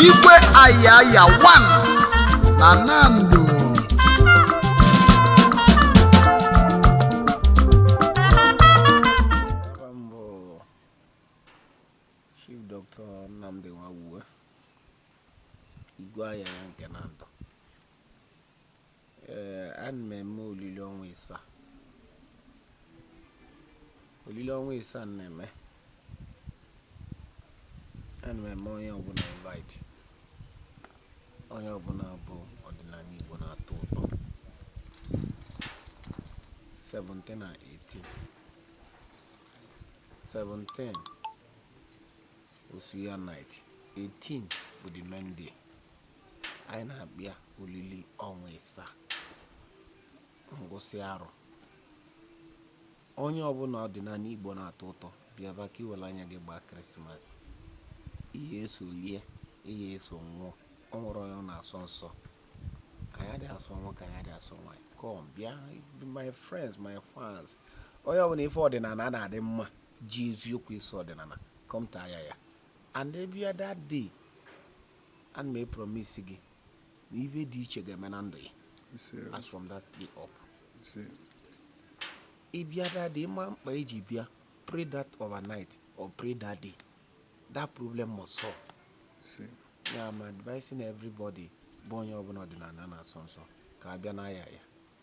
Igwe Ayaya 1 na Nando Afa m bụ Chief Dr. Nnamdi Nwawuwe, Igwe Ayaya nke Nando. Ee, ana m eme olili ọnwa ịsaa. Olili ọnwa ịsaa m na-eme. Ana m eme onye ọbụna invite. Onye ọbụna bụ ọdịnana Igbo na-atọ ụtọ. 17 na 18. 17 Osu ya night 18 bụ the main day. Anyị na-akpọ ya olili ọnwa ịsaa ngwụsị arọ. Onye ọbụna ọdịnana Igbo na-atọ ụtọ bịaba ka i were anya gị gbaa Krismas. Ihe eso lie, ihe eso ṅụọ, o nwerọ onye ọ na-asọ nsọ. Anyị adịghị asọ nwoke, anyị adịghị asọ nwaanyị. Come bịa, my friends, my fans. Onye ọbụna ife ọdịnana na-adị mma ji eziokwu eso ọdịnana come to Ayaya and ị bịa that day ana m epromise gị na ife dị iche ga-eme na ndụ gị Ise o. as from that day up Ise. ị bịa that day ị ma mkpa i ji bịa pray that overnight or pray that day that problem must solve Ise. ya I'm advising everybody bụ onye ọbụna ọdịnana na-asọ nsọ ka a bịa n'Ayaya